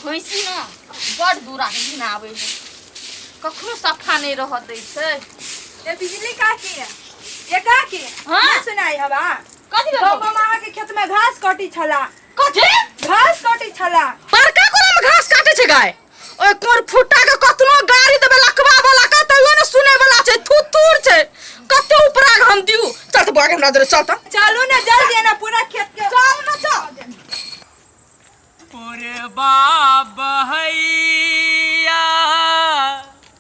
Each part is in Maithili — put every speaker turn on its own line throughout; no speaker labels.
भैंसी ने बड़ दूरा के दिन आबै है कखनो सफा नहीं रह दै छै ये बिजली का की है ये का की है हाँ। ना सुनाई हवा कथी भेल गाँव में मामा के खेत में घास कटी छला कथी घास कटी छला बड़का कोना में घास काटे छै गाय ओहि कोर फुटा के कतनो गाड़ी देबे लकवा वाला का तैयो ने सुने वाला छै थुथुर छै कते उपरा हम दिउ चल त बागे हमरा दरे चल त चलू ने जल्दी ना पूरा खेत के चल ना चल पूरे बाबा है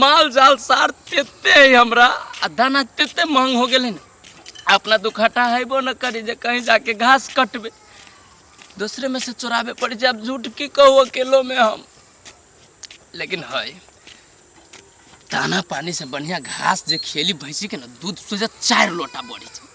माल जाल सार तेते है हमरा आ दाना तेते महंग हो गेले ना अपना दुखटा हैबो न करी जे कहीं जाके घास कटबे दूसरे में से चोराबे पड़े छै अब झूठ की कहू अकेलो में हम लेकिन है दाना पानी से बढ़िया घास जे खेली भैंसी के ना दूध सोझा चार लोटा बढ़ी छै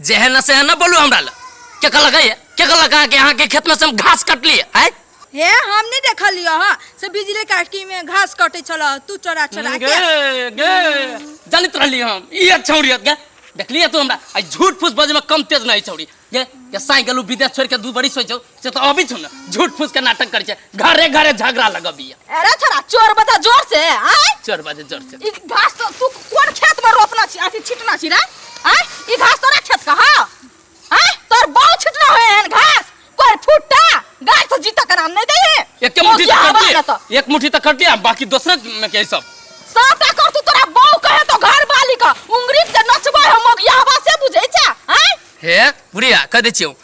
जे है ना से है ना बोलू हमरा ला के कहलक है के कहलक है कि यहाँ के खेत में से हम घास कटली है हे हम नहीं देखलियो ह से बिजली काटकी में घास कटे छल तू चोरा चोरा के गे गे जानित रहली हम ई एक छौड़ी हत गे देखलिए तू हमरा आई झूठ फूस बजे में कम तेज नहीं छौड़ी गे के साई गेलू विदेश छोड़ के दू बड़ी सोचो से तो अभी छो ना झूठ फूस के नाटक करे छे घरे घरे झगड़ा लगबिया अरे थोड़ा चोर बता जोर से आय चोर बाजे जोर से ई घास तो तू कोन खेत में रोपना छी अथी छिटना छी रे आय ई घास तोरा खेत का हा आय तोर बाऊ छिटना होय एहन घास कोर फुट्टा गाय तो जीता के नाम नहीं दे है एक के मुट्ठी तो कर ना तो दिए एक मुट्ठी तो कर दिया बाकी दूसरे में के सब साफ कर तू तोरा बाऊ कहे तो घर वाली का उंगरी से नचबा हम मोगियावा से बुझै छा आय हे बुढ़िया कह दे छियो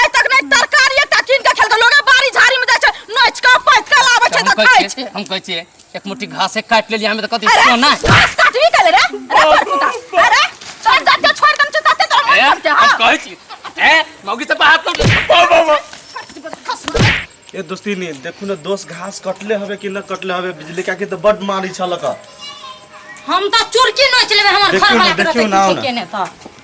आइ तक नहि तरकारी एकटा कीन के खेलकै लोगे बाड़ी झाड़ी में जाय छै नोच के पैत के लाबै छै हम तऽ कहै खाय छियै छै हम कहै छियै एक मुट्ठी घासे काटि लेलियै हमे तऽ कथी अरे सोना घास काटबी कले रे अरे पर पुता अरे छोड़ दे के छोड़ दे छै तते तोरा ए, मन करते हम हां कहै छी ए मौगी से बात कर ए दोस्ती ने देखू ना दोस्त घास कटले हवे कि ना कटले हवे बिजली काकी तो बड मारी छलक हम तऽ चुरकी नोच लेबै हमर देखियौ घर ने, वाला देखियौ ने, आउ ने। केने तऽ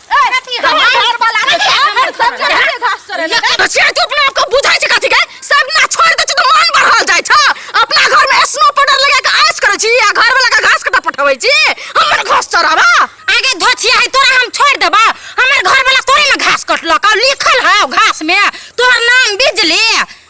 कथी हम घर वाला के हमर सब जगह घास चरे ले बचिया तू अपना आपको बुझाई छै कथी के सब ना छोड़ दे छै तो मन बढ़ल जाय छ अपना घर में स्नो पाउडर लगा के आयस करे छी आ घर वाला के घास कटा पठबै छी हमर घास चराबा आगे धोछिया है तोरा हम छोड़ देबा हमर घर वाला तोरे में घास कटलक और लिखल है घास में तोहर नाम बिजली